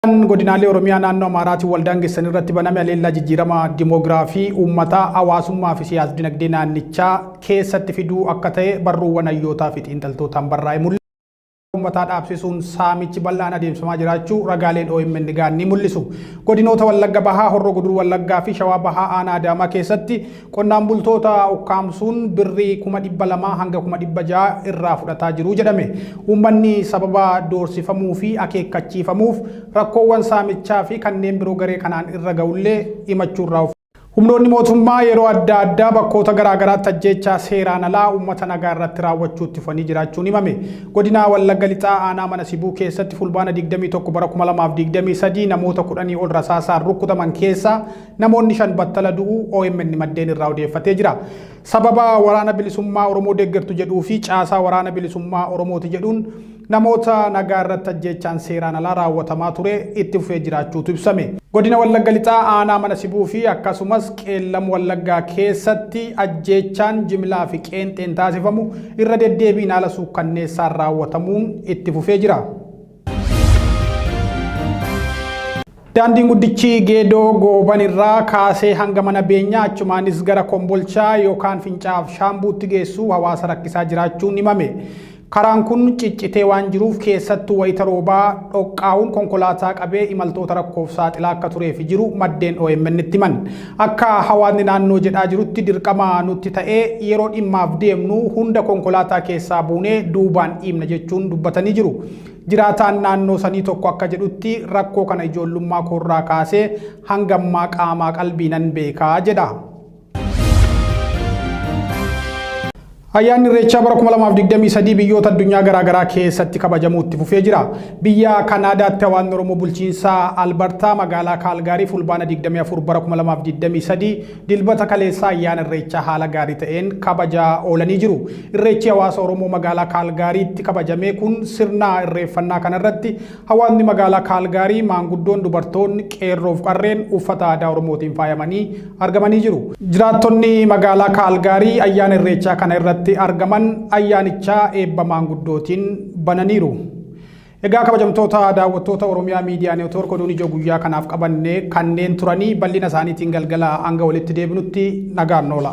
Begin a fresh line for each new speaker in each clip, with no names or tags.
Kan godinaalee Oromiyaa naannoo Amaaraatiin waldaangessan irratti baname aleellaa jijjiirama dimoogiraafii uummataa, hawaasummaa fi siyaas-dinagdee naannichaa keessatti fiduu akka ta'e barruuwwan hayyootaa fi xiinxaltootaan barraa'e mul'isa. Amantaa uummataa dhaabsisuun saamichi bal'aan adeemsifamaa jiraachuu ragaaleen omn ga'an ni mul'isu. Godinoota Wallagga Bahaa, Horroo Guduruu Wallaggaa fi Shawaa Bahaa aanaa Adaamaa keessatti Qonnaan bultoota ukkaamsuun birrii kuma dhibba lamaa hanga kuma dhibba ja'a irraa fudhataa jiru jedhame. Uummanni sababa doorsifamuu fi akeekkachiifamuuf rakkoowwan saamichaa fi kanneen biroo garee kanaan irra ga'ullee himachuu irraa of. Humnoonni mootummaa yeroo adda addaa bakkoota garaa garaatti ajjeechaa seeraan alaa uummata nagaa irratti raawwachuu itti fufanii jiraachuun himame. Godina Wallagga Lixaa aanaa Mana Sibuu keessatti Fulbaana digdamii tokko bara kuma lamaa fi digdamii sadii namoota kudhanii ol rasaasaan rukkutaman keessaa Namoonni shan battala du'uu OMN maddeen irraa odeeffatee jira. Sababa waraana bilisummaa Oromoo deeggartu jedhuu fi caasaa waraana bilisummaa Oromooti jedhuun namoota nagaa irratti ajjeechaan seeraan alaa raawwatamaa ture itti fufee jiraachuutu ibsame. Godina Wallagga Lixaa aanaa mana sibuu fi akkasumas qeellam Wallaggaa keessatti ajjeechaan jimlaa fi qeenxeen taasifamu irra deddeebiin haala suukkanneessaan raawwatamuun itti fufee jira. Daandiin guddichi geedoo gooban irraa kaasee hanga mana beenyaa achumaanis gara kombolchaa yookaan fincaaf shaambuutti geessu hawaasa rakkisaa jiraachuun himame. Karaan kun ciccitee waan jiruuf keessattuu wayita roobaa dhoqqaa'uun konkolaataa qabee imaltoota rakkoof saaxilaa akka tureefi jiru maddeen OMN itti himan. Akka hawaasni naannoo jedhaa jirutti dirqama nutti ta'ee yeroo dhimmaaf deemnu hunda konkolaataa keessaa buunee duubaan dhiibna jechuun dubbatanii jiru. Jiraataan naannoo sanii tokko akka jedhutti rakkoo kana ijoollummaa koorraa kaasee hanga ammaa qaamaa qalbiinan beeka jedha. Ayyaanni Irreechaa bara 2023 biyyoota addunyaa garaa garaa keessatti kabajamuu itti fufee jira. Biyya Kanaadaatti hawaasni Oromoo bulchiinsa Albartaa magaalaa Kaalgaarii Fulbaana 24 bara 2023 dilbata kaleessaa ayyaana Irreechaa haala gaarii ta'een kabajaa oolanii jiru. Irreechi hawaasa Oromoo magaalaa Kaalgaariitti kabajamee kun sirna irreeffannaa kanarratti Hawaasni magaalaa Kaalgaarii maanguddoon, dubartoonni, qeerroof qarreen uffata aadaa Oromootiin faayamanii argamanii jiru. Jiraattonni magaalaa Kaalgaarii ayyaana Irreechaa kana irratti argaman ayyaanichaa eebba maanguddootiin bananiiru. Egaa kabajamtoota daawwattoota Oromiyaa Miidiyaa Neetwoork oduun ijoo guyyaa kanaaf qabanne kanneen turanii bal'ina isaaniitiin galgala hanga walitti deebinutti nagaan noola.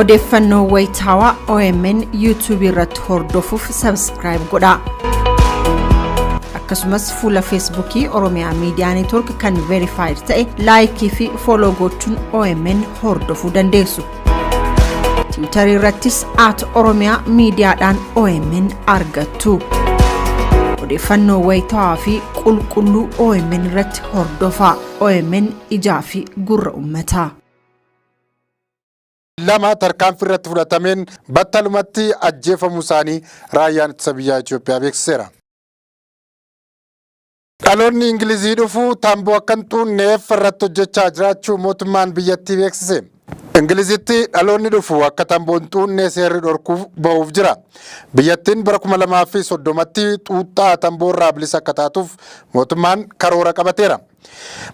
Odeeffannoo wayitaawaa OMN YouTube irratti hordofuuf subscribe godhaa. Akkasumas fuula Feesbuukii Oromiyaa Miidiyaa Neetwoork kan verified ta'e laayikii fi fooloo gochuun OMN hordofuu dandeessu. Tiwiitarii irrattis at Oromiyaa miidiyaadhaan OMN argattu. Odeeffannoo wayitaawaa fi qulqulluu OMN irratti hordofaa. OMN ijaa fi gurra ummataa.
2 tarkaanfii irratti fudhatameen battalumatti ajjeefamuu isaanii Raayyaan Ittisa Biyyaa Itiyoophiyaa beeksiseera. Dhaloonni Ingilizii dhufu tamboo akka hin xuunneef irratti hojjechaa jiraachuu mootummaan biyyattii beeksise. Ingilizitti dhaloonni dhufu akka tamboo hin xuunne seerri dhorkuuf ba'uuf jira. Biyyattiin bara 2030tti xuuxxaa tamboo irraa bilisa akka taatuuf mootummaan karoora qabateera.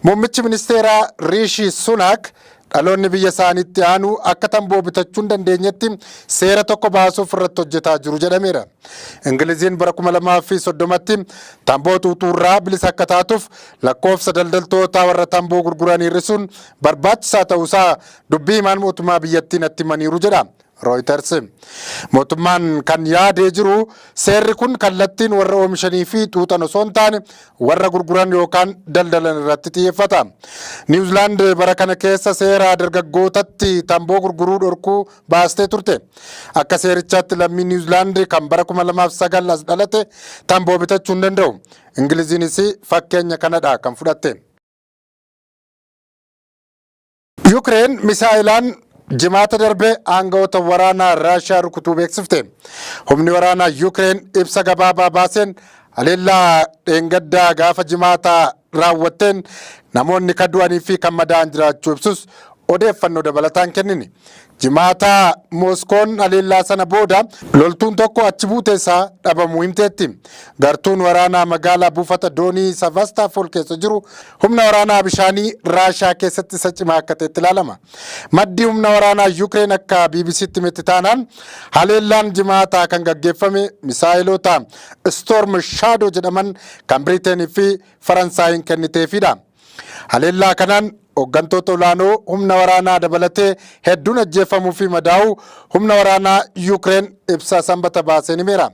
Muummichi ministeeraa Riishi Sunaak dhaloonni biyya isaaniitti aanu akka tamboo bitachuu hin dandeenyetti seera tokko baasuuf irratti hojjetaa jiru jedhameera. Ingiliziin bara 2030tti tamboo xuuxuurraa bilisa akka taatuuf lakkoofsa daldaltoota warra tamboo gurguran hir'isuun barbaachisaa ta'uusaa dubbii himaan mootummaa biyyattii natti himaniiru jedha Rooyiters. Mootummaan kan yaadee jiru seerri kun kallattiin warra oomishanii fi xuuxan osoo hin taane warra gurguran yookaan daldalan irratti xiyyeeffata. Niwuzilaand bara kana keessa seera dargaggootatti tamboo gurguruu dhorkuu baastee turte. Akka seerichaatti lammii Niwuzilaand kan bara 2009 as dhalate tamboo bitachuu hin danda'u. Ingiliziinis fakkeenya kanadha kan fudhatte. Yukireen misaa'ilaan Jimaata darbe aanga'oota waraanaa Raashiyaa rukutuu beeksifte. Humni waraanaa Yukireen ibsa gabaabaa baaseen haleellaa dheengaddaa gaafa Jimaataa raawwatteen namoonni kan du'anii fi kan madaa'an jiraachuu ibsus odeeffannoo dabalataan kennine. Jimaata Mooskoon haleellaa sana booda loltuun tokko achi buute isaa dhabamuu himteetti. Gartuun waraanaa magaalaa buufata doonii Sevastopol keessa jiru humna waraanaa bishaanii Raashiyaa keessatti isa cimaa akka ta'etti ilaalama. Maddi humna waraanaa Yukireen akka BBCtti himetti taanaan haleellaan Jimaataa kan gaggeeffame misaayeloota Storm Shadow jedhaman kan Biriiteenii fi Faransaayiin kenniteefidha. Haleellaa kanaan hoggantoota olaanoo humna waraanaa dabalatee hedduun ajjeeffamuu fi madaa'uu humna waraanaa Yuukireen ibsa Sanbata baaseen himeera.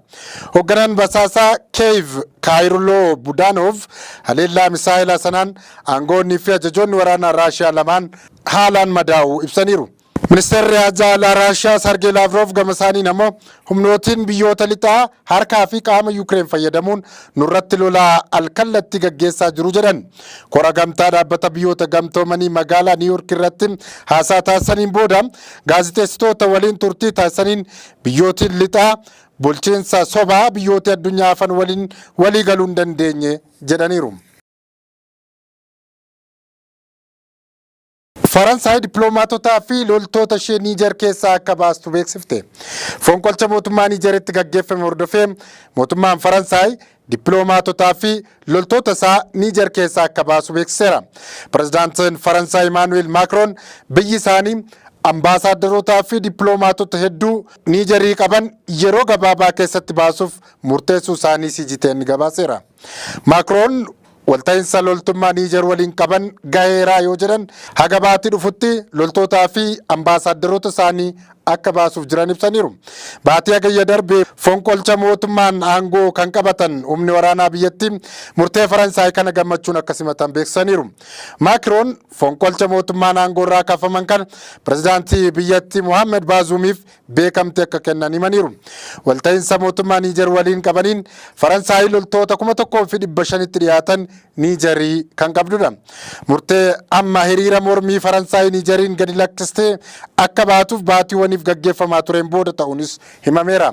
Hogganaan basaasaa Keeyiv Kaayirloo Budaanoov haleellaa misaa'elaa sanaan aangoonnii fi ajajoonni waraanaa Raashiyaa lamaan haalaan madaa'uu ibsaniiru. Ministeerri Haajaa Alaa Raashiyaa Sargee Laavroov gamasaaniin ammoo humnootiin biyyoota lixaa harkaa fi qaama Yukireen fayyadamuun nurratti lola alkallattii gaggeessaa jiru jedhan. Kora Gamtaa Dhaabbata Biyyoota Gamtoomanii magaalaa Niiwuurk irratti haasaa taasisaniin booda gaazixeessitoota waliin turtii taasisaniin biyyootiin lixaa bulchiinsa sobaa biyyootii addunyaa hafan waliin walii galuu hin dandeenye jedhaniiru. Faransaay dippiloomaatotaa fi loltoota ishee Niijer keessaa akka baastu beeksifte. Fonqolcha mootummaa Niijeritti gaggeeffame hordofee mootummaan Faransaay dippiloomaatotaa fi loltoota isaa Niijer keessaa akka baasu beeksiseera. Pirezidaantiin Faransaay Imaanu'eel Maakroon biyyi isaanii ambaasaaddarootaa fi dippiloomaatota hedduu Niijerii qaban yeroo gabaabaa keessatti baasuuf murteessuu isaanii CGTN gabaaseera. Maakroon Walta'iinsa loltummaa Niijer waliin qaban gaheeraa yoo jedhan, haga baatii dhufutti loltootaa fi ambaasaaddaroota isaanii akka baasuuf jiran ibsaniiru. Baatii Hagayya darbe fonqolcha mootummaan aangoo kan qabatan humni waraanaa biyyattii murtee Faransaay kana gammachuun akka simatan beeksisaniiru. Maakiroon fonqolcha mootummaan aangoorraa kaafaman kana pirezidaantii biyyattii Mohaammed Baazuumiif beekamtii akka kennan himaniiru. Walta'iinsa mootummaa Niijer waliin qabaniin Faransaay loltoota 1,500tti dhiyaatan Niijerii kan qabdudha. Murtee amma hiriira mormii Faransaay Niijeriin gadi lakkistee akka baatuuf baatiiwwaniif gaggeeffamaa tureen booda ta'uunis himameera.